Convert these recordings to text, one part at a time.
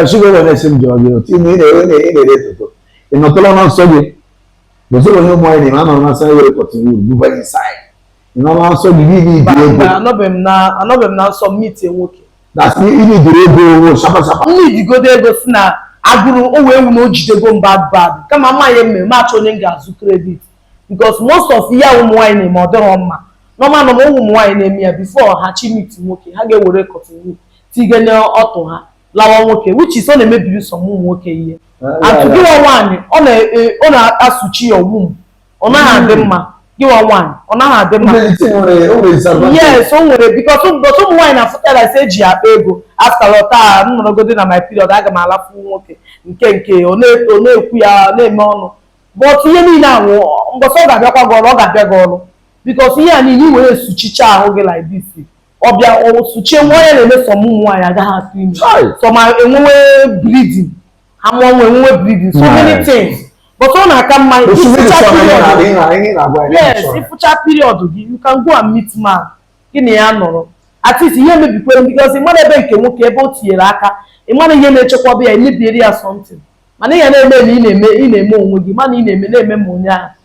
Sugar wee na-esi m jụrụ gị otu ime ị na-ere na ị na-ere toto ị nọtụla na nsọ gị gozoro onye ụmụ nwaanyị na anọ na nsọ gị were cotton wool buba inside ị nọ na nsọ gị gị ibi ego anọbeghị m na anọbeghị m na nsọ m meetie nwoke na si ibi dịrị ego owo sharp sharp nne idigodo ego si na agụrụ o wee wu na o jidego m bad bad kama m ya-eme m achọ onye m ga-azụ credit because most of ihe a ụmụ nwaanyị na-eme ọ dịrọ mma normal normal ụmụ nwaanyị na-eme ya before ha chi meet nwoke ha ga-ewere cotton wool tiga n'ọtụ ha lawa nwoke which is ọ na-emebiri some ụmụ nwoke ihe ahụ gịwa nwaanyị ọ e, na-esuchi ya ọgwụ ọ naghị adị hmm. mma gịwa nwaanyị ọ naghị adị mma yes o nwere because ụbọchị ụmụ nwaanyị na-afụtara ise eji akpa ego after taa m nọrọgodi na my period aga m alafu nwoke nke nke ọ na-ekwu ya na-eme ọnụ but ihe niile ahụ mbọsị ọ ga-abịakwa gị ọrụ ọ ga-abịa gị ọrụ because ihe a niile i were esuchicha ahụ gị like this ọ bịa o suchie nwa onye na-eme some ụmụ nwaanyị agaghị atụ ime some enwewe bleeding ha mụọ nwa enwewe bleeding so many things but ọ na-aka mma ị fụcha period gị you can go and meet man gị na ya nọrọ at least ihe emebikwe because ị mara ebe nke nwoke ebe o tinyere aka ị mara ihe na-echekwaba ya emebiere ya something mana ihe a ị na-eme na ị na-eme onwe gị mana ị na-eme na-eme ma onye ahụ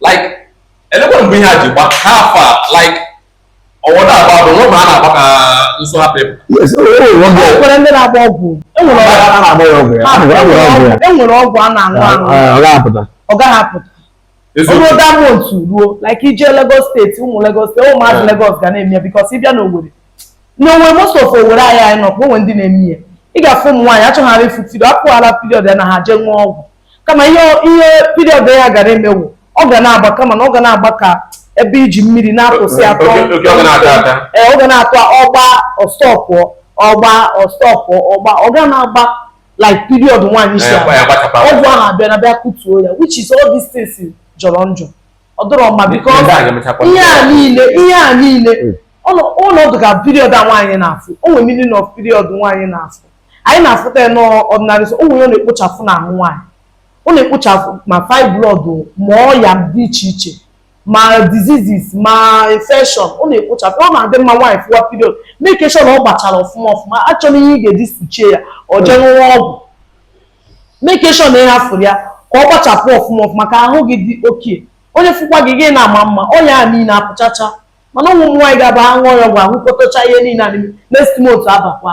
like elekwa mgbe ihe a ji gba ha afa like ọwọdọ agba bụ nwa ma a na-agba ka nsọ ha pepụ Yes, o nwere ọgwụ ya. e nwere ndị na-agba ọgwụ e nwere ọgwụ A na-agba ya ọgwụ ya. A na-agba ya ọgwụ ya. e nwere ọgwụ a na-aṅụ aṅụ Ah, ọ ga-apụta. ọ gaghị apụta o ruo eziokwu that month ruo like ije Lagos State ụmụ Lagos State ụmụazị Yeah. Lagos ga na-eme ya because ị bịa n'Owerri n'Owerri most of Owerri anyị anyị nọ o nwere ndị na-eme ya ị ga-afụ ụmụ nwaanyị achọghara ịfụ period apụghara period ya na ha jee ṅụọ ọgwụ kama ihe ihe period ya gara eme wụ ọ ga na-agba kama na ọ ga na-agba ka ebe e ji mmiri na-atụsị atụ ee ọ ga na-atụ ọ gba ọ stop ọ gba ọ stop ọ gba ọ ga na-agba like period nwaanyị si ọgwụ ahụ abịa na bịa kutuo ya which is all these things jọrọ njọ ọ dịrọ mma biko ihe a niile ihe a niile hmm. ọ dị ka period a nwaanyị na-afụ o nwere meaning of period nwaanyị na-afụ anyị na-afụta ya n'ọdịnala some ọya ọ na-ekpochafụ n'ahụ nwaanyị ọ na-ekpochafụ ma fibroid ma ọya dị iche iche ma diseases ma infection ọ na-ekpochafụ ọ na-adị mma nwaanyị fụwa period make sure na ọ gbachara ọfụma ọfụma achọna ihe ị ga-eji suchie ya or jee ṅụwa ọgwụ make sure na ị hafụrụ ya ka ọ gbachapụ ọfụma ọfụma ka ahụ gị dị okay onye fụkwa gị gị na-ama mma ọya a niile apụchacha mana ụmụ nwaanyị ga-aba ha ṅụọ ya ọgwụ ahụ kpọtacha ihe niile a n'ime next month abakwa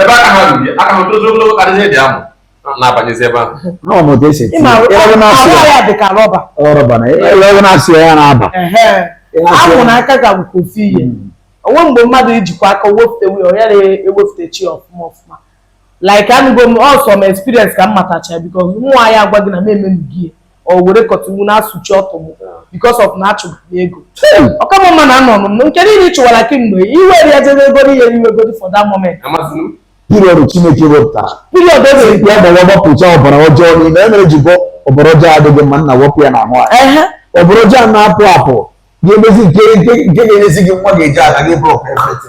ebe aka ha ruru aka ha tozu ogologo karịa ihe dị ahụ na-abanyezi ebe ahụ ọ bụ otu esi eti ịma ya ebe na-asị arụ ya ya dị ka rọba ọ rọba na ebe na-asị ya ya na-aba ehe ahụ na aka ga nke ofu ihe o nwe mgbe mmadụ ijikwa aka wepụta wee ọ yara ewepụtacha ya ọfụma ọfụma like anụgo m some experience ka m matacha because nwa ya agwa gị na m emenugi ya ọ were cotton wool na-asụchi ọtụ m because of na achụgụ m ego ọ ka mma na anọ m nke niile ị chụwara kemgbe i were ya jebe ego n'ihe i nwegodi for that moment amasịrị m period chineke wepụtara period o mere ya gbawa gbapụcha ọbara ọjọọ niile ihe mere o ji bụ ọbara ọjọọ adịghị mma na-ewepụ ya n'ahụ anyị ehe ọbara ọjọọ na-apụ apụ ga-emezi nke nke nke ga-enyezi gị nwa ga-eji ala gị blọk efete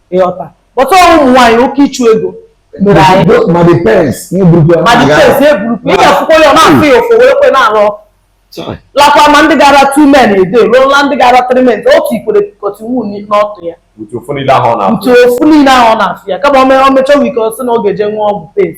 ị ghọta but ọrụ ụmụ nwaanyị oke ịchụ ego mere anyị Those ma the pains ihe burukwa ma the pains eburukwu ị ga-afụkwa ya ọ na-afụ ya ụfụ were kwe na-arụ lakwa ma ndị gara two men a day ruola ndị gara three men o tikwere cotton wool n'ọtụ ya With ụfụ niile ahụ ọ na-afụ. with ụfụ niile ahụ ọ na-afụ ya kama o mee- o mechaa weak ọ sị na ọ ga-eje ṅụọ ọgwụ pains